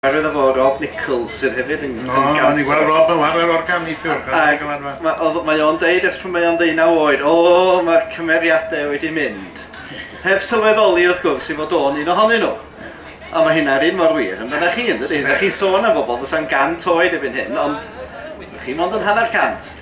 Chwaraeodd efo Rob Nichols sydd hefyd yn yn gant. O, ni wel Rob yn whare organig fiwr pan ti'n gwlad fan. Ma oedd mae o'n deud ers pan mae o'n ddeunaw oed o mae'r cymeriadau wedi mynd. Heb sylweddoli wrth gwrs i fod o'n un ohonyn nhw. Ond mae hynna'r un mor wir amdana chi yndydi? Dach chi'n sôn am bobl fysa'n gant oed erbyn hyn ond chi mond yn hanner cant.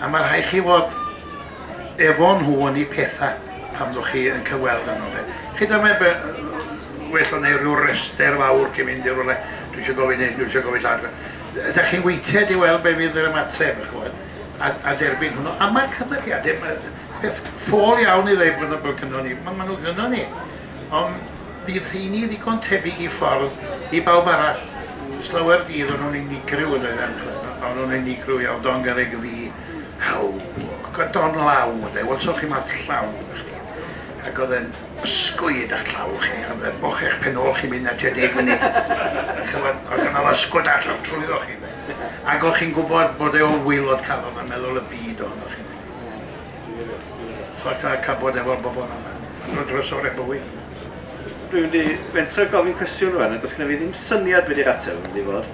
A ma' rhai' chi fod efo nhw yn eu petha pan ddoch chi yn cyfweld â nhw 'de. Chi wbod mae be- yy well o neud ryw rester fawr cyn mynd i rywle, dwi isio gofyn hyn, dwi isio gofyn llall. Yy 'dach chi'n weithted i weld be' fydd yr ymateb dych ch'mod a a derbyn hwnnw. A ma'r cymeriade 'ma yy peth ffôl iawn i ddeud bod nhw fel gynnon ni, ma' ma' nhw gynnon ni. Ond bydd rheini ddigon tebyg i ffordd i bawb arall. Ers llawer dydd o'n nhw'n unigryw yn doedden, ch'mod, ma', o'n nhw'n unigryw iawn, Don Garreg y fi, how, ac oedd Don law, ynde, wel so chi marc llaw gyda chdi, ac oedd e'n ysgwyd â'ch llaw chi, ch'mod, fe bochech pen ôl chi mynd na tua deg munud, ch'mod, oedd gynno fo ysgwyd â llaw trwyddoch chi, ynde, ac o'ch chi'n gwybod bod e o waelod calon yn meddwl y byd ohonoch chi, ynde. Chwarae teg cabod efo'r bobl yma. Maen nhw'n drysorau bywyd. Dwi mynd i fentro gofyn cwestiwn rwan a does gynna fi ddim syniad be di'r ateb yn mynd i fod.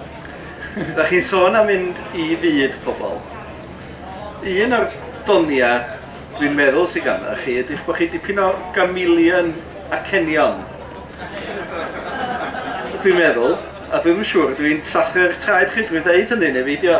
Dach chi'n sôn am mynd i fyd pobl. Un o'r doniau dwi'n meddwl sydd ganddoch chi ydy'ch bod chi dipyn o gamelian acenion. Dwi'n meddwl, a dwi'm yn siŵr, dwi'n sathru'r traed chi drwy ddeud hynny neu beidio.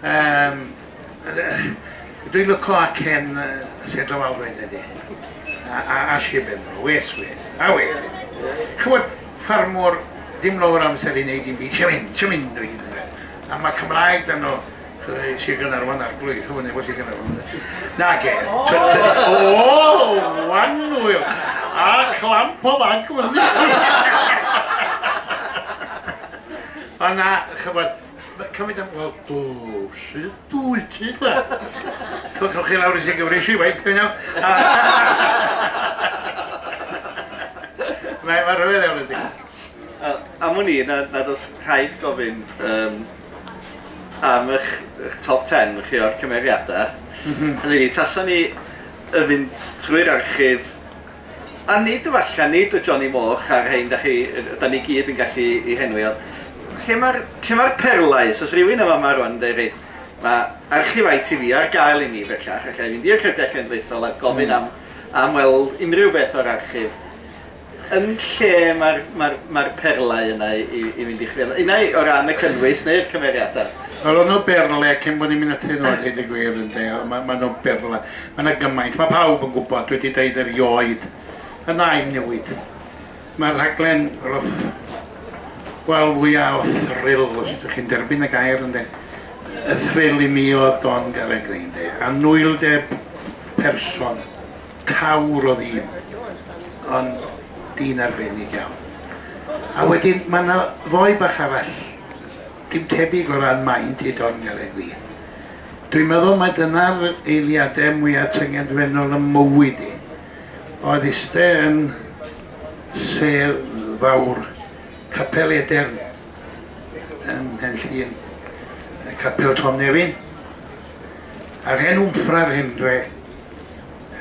Yym, dwi'n lwco acen Sir Drefaldwyn ydi. A, a, a Sir Benfro, wes, wes, a wes. Ch'mod, ffarmwr, dim lawr amser i wneud i'n byd, sio mynd, sio mynd o hyd yn oed. A mae Cymraeg dan o, Sir Gynarfon a'r blwydd, ch'mod, neu fo Sir Gynarfon. Nag e, o, wan hwyl, a clamp o fanc, Ond na, ch'mod, Mae cymryd am... Wel, dw, sydd dwy ti, de? Codwch chi lawr i sy'n gyfreisi, wei, dwi'n iawn. Mae yma rhyfedd iawn ydy. Am wn i, nad oes rhaid gofyn um, am eich, eich top 10 chi o'r cymeriadau. Mhm. Hynny ydi, tasa ni yn mynd trwy'r archif A nid efallai, nid y Johnny Moch a'r rhein da chi, da ni gyd yn gallu i henwi, ond lle mae'r, lle mae'r perlau? Os oes rhywun yn fama rwan yn deud, reit, mae archif ITV ar gael i mi bellach, alla i fynd i'r Llyfrgell Genedlaethol a gofyn am, am weld unrhyw beth o'r archif. Yn lle mae'r, mae'r, mae'r perlau yna i, i, i fynd i chwilio? Unai o ran y cynnwys neu'r cymeriadau? Wel, o'n nhw berlau, cyn bod ni'n mynd atyn nhw a dweud y gwir, ynde, mae, mae nhw berlau. Mae 'na gymaint, mae pawb yn gwybod, dwi wedi deud erioed, y nain newid. Mae'r rhaglen roth, wel, fwya o thrill, os ydych chi'n derbyn y gair, ynde. Y thrill i mi oedd Don Garreg, ynde. Anwyldeb person, cawr o ddyn, ond dyn arbennig iawn. A wedyn, mae 'na foi bach arall, Dim tebyg o ran maint i Don Gallagly. Dwi'n meddwl mai dyna'r eiliadau mwya tyngedfennol ym mywyd i. Oedd iste yn sedd fawr Capel Edern ym Mhenllyn, y Capel Tom Nefyn, a'r hen wmffra'r hen dre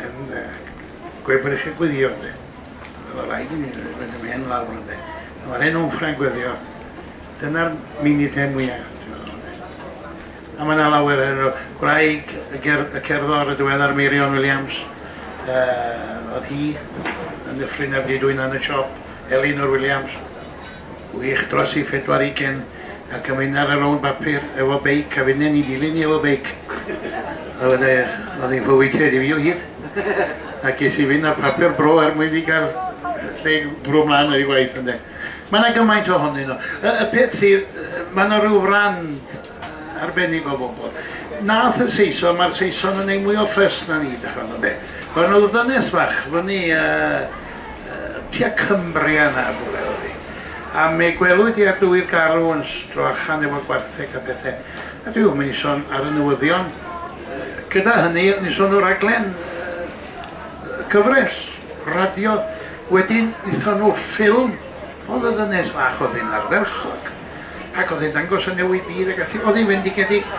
yn Gwebrich y Gwydion de. O'dd o raid i mi roid y mhen lawr ynde. A ma'r hen Wnffra'n gweddio dyna'r mini pen mwya ti'n meddwl ynde. A ma' 'na lawer ohonyn nhw. Gwraig y ger- y cerddor y diweddar Meirion Williams yy o'dd hi yn Nyffryn Ap Dudwyn yn y siop Elin o'r Williams. Wych dros i phedwar ugen ac am un ar y rownd bapur efo beic a finne ni dilyn i efo beic a wedai e oedd hi'n fywyd heddiw i o hyd a ges i fynd ar papur bro er mwyn fi gael lle i bwrw mlaen ar i waith ynde mae yna gymaint ohonyn nhw y, y peth sydd mae yna rhyw frand arbennig o fobl nath y Saeson mae'r Saeson yn ei mwy o ffys na ni dych chi'n ynde Mae'r nhw ddynes fach fyny a tua Cumbria yn nhad rhywle oedd hi, a mi gwelwyd hi ar dywydd garw yn stroachan efo gwartheg a pethe, a dwi ddim yn i son ar y newyddion. Gyda hynny, o'n i'n son o raglen gyfres radio, wedyn nithon nhw ffilm, oedd y ddynes fach oedd hi'n ardderchog, ac oedd hi'n dangos y newid byd ac ati, oedd hi'n fendigedig,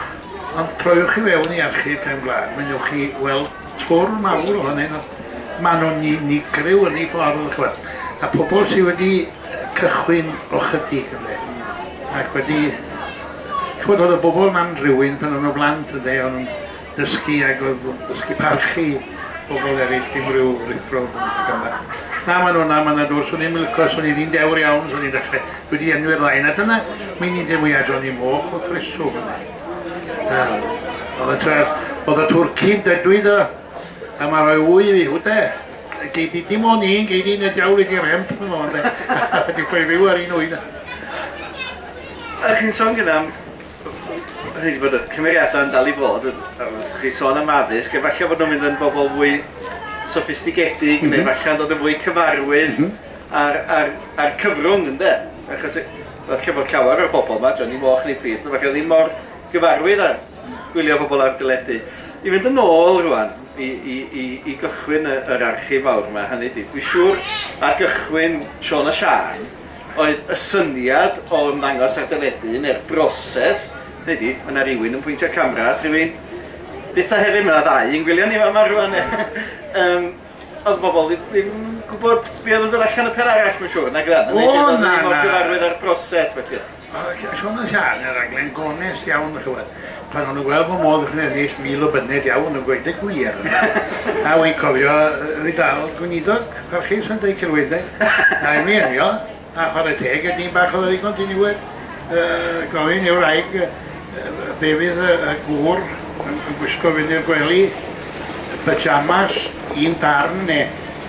ond troiwch i fewn i Archif Cefn Gwlad, mynnewch chi weld Twrn mawr ohonyn nhw. Maen nhw'n unigryw yn eu ffordd, dach ch'mod. A pobl sy wedi cychwyn o 'chydig ynde. Ac wedi... Ch'mod oedd y bobl 'na'n rywun pan o'n nhw'n blant ynde. O'n nhw'n dysgu ac oedd o'n dysgu parchu pobl eraill dim ryw ruthro o gwmpas ac yn dda. Na maen nhw'n dda, maen nhw'n dwrs. Swn i'm yn licio, swn i ddyn dewr iawn, swn i'n dechrau, dwi 'di enwi'r ddau 'na. Dyna meinidie mwya Johnny Moch wrth reswm ynde. Oedd y tra... Oedd y twrci'n dedwy do. A mae rhoi wy fi, hwte. Gei di dim ond un, gei di neu diawl i di remp yn o'n de. Di ffoi rhyw ar un wy da. A chi'n sôn gyda am... Rhaid i fod y cymeriadau yn dal i fod. Chi'n sôn am addysg, efallai fod nhw'n mynd yn bobl fwy soffistigedig, mm -hmm. neu efallai yn dod yn fwy cyfarwydd mm -hmm. ar, ar, ar cyfrwng, ynddo? Achos Falle bod llawer o'r bobl 'ma, Johnny Moch neu Prith neu falle, ddim mor gyfarwydd â gwylio pobl ar deledu. I fynd yn ôl rŵan i i i i gychwyn y yr archif fawr 'ma, hynny 'di, dwi siŵr ar gychwyn Siôn a Siân oedd y syniad o ymddangos ar deledu neu'r broses, hynny 'di, ma' 'na rywun yn pwyntio'r camera at rywun, byth a hefyd ma' 'na ddau yn gwylio ni fama rŵan, yym. Oedd bobl ddim, ddim gwybod be oedd yn dod allan y pen arall, mae'n siŵr, nag yna? O, na, na. Oedd ddim gyfarwydd â'r broses, felly. Oedd Siôn yn Siân yn raglen gonest iawn, mae'n siŵr. Pan o'n nhw'n gweld bod modd iddyn nhw ennill mil o byned iawn, yn gweud y gwir. A wi'n cofio, fi dal, gweinidog parchus yn dweud celwyddau, rhaid mi enio. A chwarae teg i dîm bach oedd yn ddigon diniwed, gofyn i'r wraig be fydd y gŵr yn gwisgo fynd i'r gwely, pyjamas, un darn neu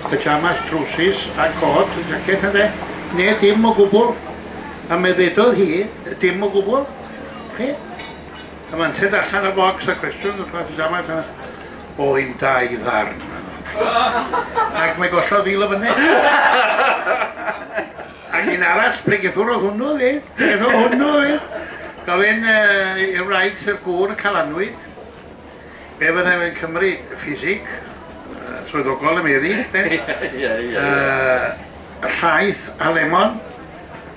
pyjamas, trowsus a côt, jacket ynde, neu dim o gwbl. A mi ddedodd hi, dim o gwbl. Chi? A mae'n ted allan o'r bocs a cwestiwn, O yw dau ddarn. Ac mae gollodd fil o fyny. Ac un arall, pregethwrodd hwnnw fi. Pregethwrodd hwnnw fi. Gofyn uh, i'r wraig sy'r gŵr y calanwyd. Be fyddai fe'n cymryd? Ffisig? Uh, swyddogol y meddi? Ie, ie, ie. Llaeth a lemon?